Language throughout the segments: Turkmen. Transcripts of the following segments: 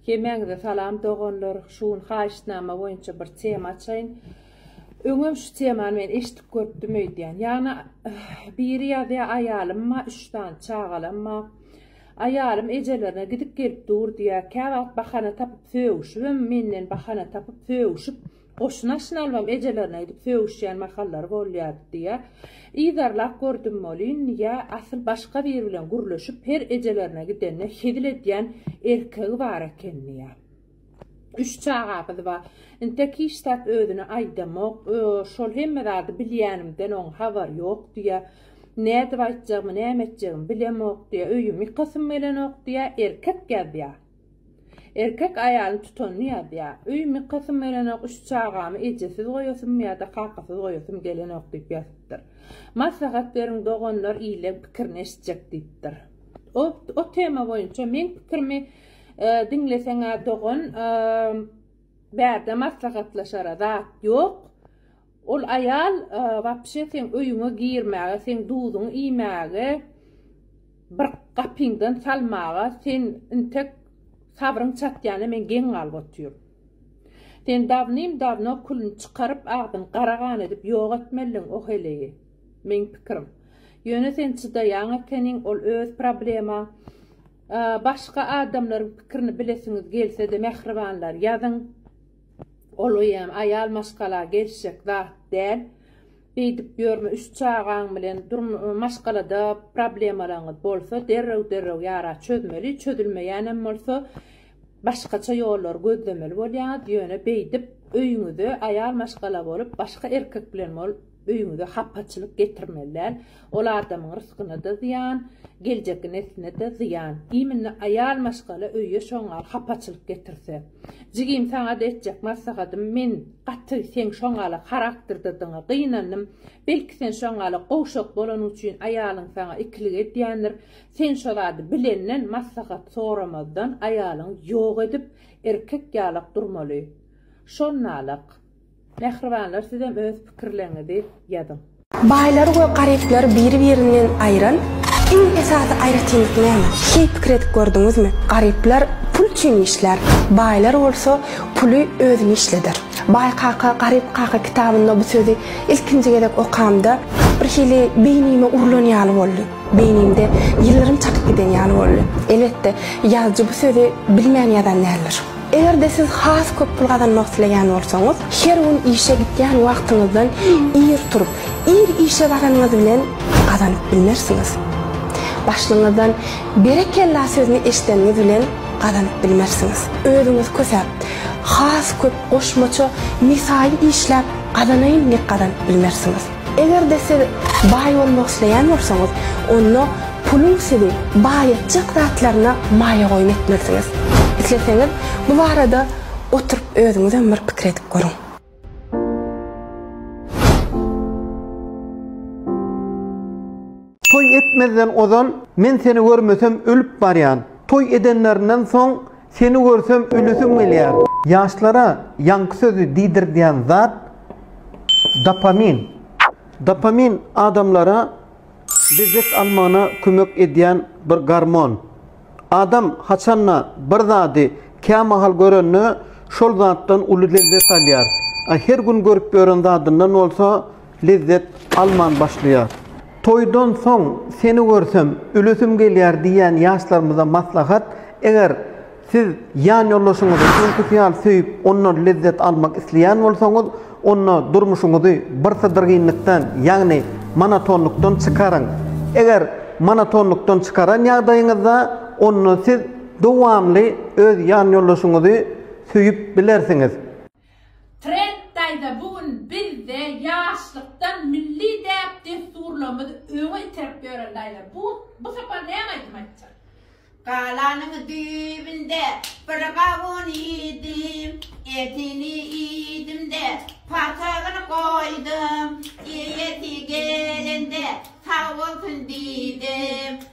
Hemäňize salam doganlar, şu gün haýyştnama boýunça bir tema açaýyn. Öňem şu temany men eşidip görüpdim öýdýän. Ýagny biri ýazýar aýalym bar, üç sany çagalam bar. Aýalym ejelerine gidip gelip dur diýýär. Käwagt bahana tapyp sögüşibem, menden bahana tapyp sögüşip Goşun aşyny albam ejelerine gidip sögüşýän mahallary bolýardy diýä. Yzarlap gördüm welin, ýa asyl başga biri bilen gürleşip her ejelerine gidende hezil edýän erkegi bar eken diýä. Üç çagabyz bar. Intek hiç zat özüne aýdamok. Şol hemme zady bilýänimden oň habary ýok diýä. Nädip aýtjagymy, näme etjegimi bilemok diýä. Öýüm ýykasym gelenok diýä. Erkek ýazýa. Erkek aýalyň tutanyny ýazýar. Öý mykasym bolanok, üç çagamy ejesiz goýasym ýa-da kakasyz goýasym gelenok diýip ýazypdyr. Maslahat beriň doganlar illeň pikirini eşitjek diýipdir. O o tema boýunça meň pikirimi diňleseň-ä dogan bärde maslahatlaşara zat ýok. Ol aýal wapşe seň öýüňe girmäge, seň duzuňy iýmäge, bir gapyňdan salmaga sen intek sabryň çatýana men geň galyp otyryn. Sen dawnym-dawno külüni çykaryp, agzyny gara gan edip ýok etmeldiň o heleýi. Meň pikirim. Ýöne sen çydaýaň ekeniň, ol öz problemaň. Başga adamlaryň pikirini bilesiňiz gelse-de mähribanlar ýazyň. Ol eýýäm aýal maşgala gelişjek zat däl. Beýdip ýörme üç çagaň bilen maşgalada problemalaryňyz bolsa derrew derrew ýara çözmeli çözülmeýänem bolsa başgaça ýollary gözlemeli bolýaňyz ýöne beýdip öýüňize aýal maşgala bolup başga erkek bilen bol Öýüňize hapaçylyk getirmeli däl. Ol adamyň rysgyna-da zyýan, geljekki nesline-de zyýan. Diýim indi aýal maşgala öýe şoňňal hapaçylyk getirse. Jigim saňa-da etjek maslahatym, men gaty seň şoňňala harakterdedigňe gynandym. Belki sen şoňňala gowşak bolanyň üçin aýalyň saňa ikilik edýändir. Sen şo zady bilenden, maslahat soramazdan aýalyňy ýok edip, erkek ýalak durmaly. Şonnalyk. Mähribanlar sizem öz pikirleriňizi ýazyň. Baýlary we garyplary biri-birinden aýyran iň esasy aýratynlyk näme? Hiý pikir edip gördüňizmi? Garyplar pul üçin işlär, baýlar bolsa puly özüni işleder. Baý kaka, garyp kaka kitabynda bu sözi ilkinji gezek okamda bir hili beýnime urlan ýaly boldy. Beýnimde ýyllarym çakyp giden ýaly boldy. Elbetde, ýazyjy bu sözi bilmän ýazan däldir. Eger-de siz has köp pul gazanmak isleýän bolsaňyz, her gün işe gitýän wagtyňyzdan ir turup, ir işe baranyňyz bilen pul gazanyp bilmersiňiz. Başlygyňyzdan Berekella sözüni eşideniňiz bilen gazanyp bilmersiňiz. Özüňiz kösäp, has köp goşmaça mesaýy işläp gazanaýyn diýip gazanyp bilmersiňiz. Eger-de siz baý bolmak isleýän bolsaňyz, onda puluň sizi baý etjek zatlaryna maýa goýum etmelisiňiz. Isleseňiz, bu barada oturyp özüňizem bir pikir edip görüň. Toý etmezden ozal men seni görmesem ölüp barýan. Toý edenlerinden soň Seni görsem ölesim gelýär. Ýaşlara ýaňky sözi diýdirdýän zat dopamin. Dopamin adamlara lezzet almagyna kömek edýän bir gormon. Adam haçanda bir zady kämahal görende şol zatdan uly lezzet alýar. A her gün görüp ýören zadyndan bolsa lezzet alman başlaýar. Toýdan soň seni görsem, ülesim gelýär diýýän ýaşlarymyza maslahat, eger siz ýanýoldaşyňyzy öňküsi ýaly söýüp, ondan lezzet almak isleýän bolsaňyz, onda durmuşyňyzy birsydyrgynlykdan, ýagny monotonlykdan çykaryň. Eger monotonlykdan çykaran ýagdaýyňyzda, onda siz dowamly öz ýanýoldaşyňyzy söýüp bilersiňiz. Trend daýza bu gün bizde ýaşlykdan milli däp dessurlarymyzy öňe iterip ýören daýza bu bu sapar näme aýdym aýtjak. Galanyň düýbünde bir gawun iýdim, Etini iýdim-de, patygyny goýdum, Eýesi gelende sag bolsun diýdim.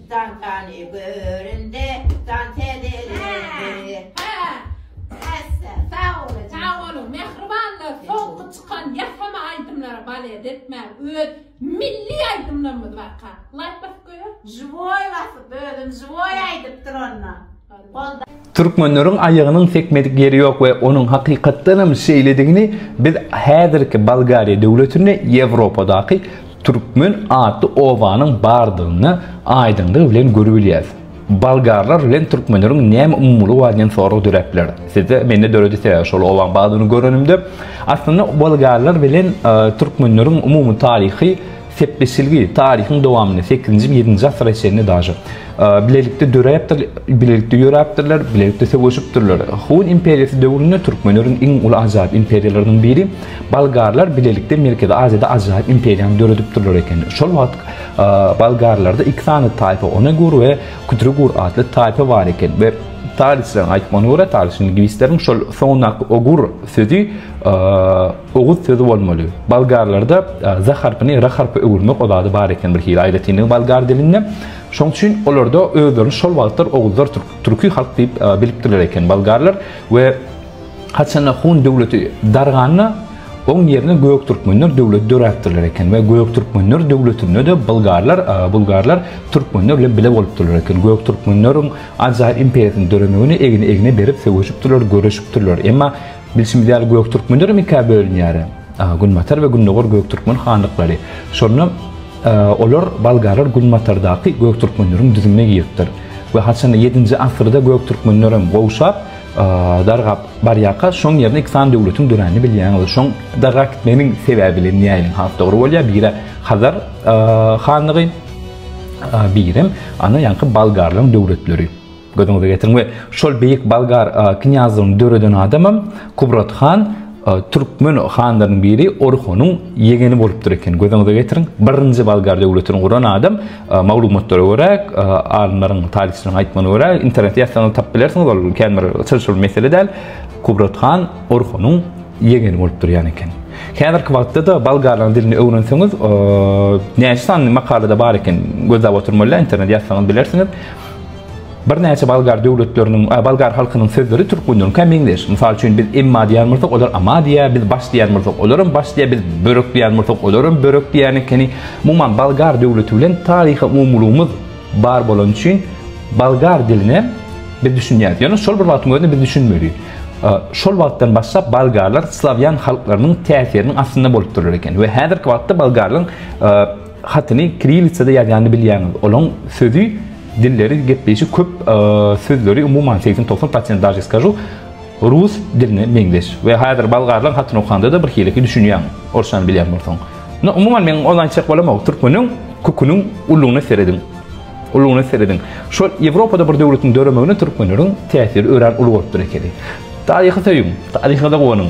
Dantany görende jan täzelendi. Hassa sag boluň. Sag boluň mähribanlar soňky çykan ýasama aýdymlara balet etmäň öz milli aýdymlarymyz barka laýk basyp goýaý. Žiwoý basyp özüm žiwoý aýdypdyr onda. Türkmenleriň aýagynyň sekmedik ýeri ýok we onuň hakykatdanam şeýledigini biz häzirki Bolgariýa döwletinde Ýewropadaky türkmen atly obanyň bardygyny aýdyňlygy bilen görübilýäris. Bolgarlar bilen türkmenleriň näme umumylygy bar diýen sorag döräp biler sizde, mende döredi sebäbi şol obaň bardygyny görenimde. Aslynda bolgarlar bilen türkmenleriň umumy taryhy Sepleşilgi taryhyň dowamynda sekizinji, ýedinji asyra çenli daža bilelikde döräpdir, bilelikde ýöräpdirler, bilelikde söweşipdirler. Hun imperiýasy döwründe türkmenleriň iň uly ajaýyp imperiýalarynyň biri bolgarlar bilelikde Merkezi Aziýada ajaýyp imperiýany döredipdirler eken. Şol wagt bolgarlarda iki sany taýpa Onegur we Kutrugur atly taýpa bar eken we taryhçylaryň aýtmagyna görä, taryhçy lingwistleriň şol soňundaky ogur sözi Oguz sözi bolmaly. Bolgarlarda za harpyny ra harpa öwürmek o zady bar eken birhili aýratynlygy bolgar dilinde. Şoň üçin olarda özlerini şol wagtlar oguzlar türki halk diýip bilipdirler eken bolgarlar we haçanda hun döwleti darganda oň ýerine göktürkmenler döwleti döräpdirler eken we göktürkmenler döwletinde-de bolgarlar bulgarlar türkmenler bilen bile bolupdyrlar eken. Göktürkmenleriň ajaýyp imperiýasynyň döremegine egni-egne berip söweşipdirler, göreşipdirler. Emma Bilşimiz ýaly Göktürkmenlerem ikä bölünýär. Günbatar we Gündogar Göktürkmen hanlyklary. Şonda olar Bolgarlar Günbatardaky Göktürkmenleriň düzümine giripdir. We haçanda ýedinji asyrda Göktürkmenlerem gowşap, dargap barýarka şoň ýerine iki sany döwletiň döränini bilýäňiz. Şoň dargap gitmeginiň sebäbi bilen näýeliň has dogry bolýar? Biri Hazar hanlygy, birem ana ýaňky Bolgarlaryň döwletleri. Gözüňize getiriň we şol beýik Bolgar knýazlygyny döreden adamam Kubrat han türkmen hanlarynyň biri Orhonyň ýegeni bolupdyr eken. Gözüňize getiriň, birinji Bolgar döwletini guran adam maglumatlara görä, alymlaryň, taryhçylaryň aýtmagyna görä, internetde ýazsaňyz tapyp bilersiňiz, ol käbir çylşyrymly mesele däl. Kubrat han Orhonyň ýegeni bolup durýan eken. Häzirki wagtda-da bolgarlaryň dilini öwrenseňiz, näçe sanly makalada bar eken, gözläp oturmaly däl, internetde ýazsaňyz bilersiňiz. Birnäçe bolgar döwletleriniň, bolgar halkynyň sözleri türk gününiňkä meňzeş. Mysal üçin, biz emma diýýän bolsak, olar ama diýýär, biz baş diýýän bolsak, olaram baş diýýär, biz börek diýýän bolsak, olaram börek diýýän ekeni. Umuman, bolgar döwleti bilen taryhy umumylygymyz bar bolany üçin bolgar diline biz düşünýäris. Ýöne şol bir wagtyň özünde biz düşünmeli. Şol wagtdan başlap bolgarlar slawýan halklarynyň täsiriniň astynda bolup durlar eken we häzirki wagtda bolgarlaryň Hatyny kirillitsada ýazýanyny bilýäňiz. Olaň sözi, dilleri, gepleýşi köp sözleri umuman 80-90 prosent daže skažu rus diline meňzeş. We häzir bolgarlaň hatyny okandada bir hileki düşünýäň, orsçany bilýän bolsaň. No umuman men ony aýtjak bolamok. Türkmeniň köküniň ulugyna serediň. Ulugyna serediň. Şol Ýewropada bir döwletiň döremegine türkmenleriň täsiri örän uly bolupdyr ekeni. Taryhy söýüň, taryha-da guwanyň.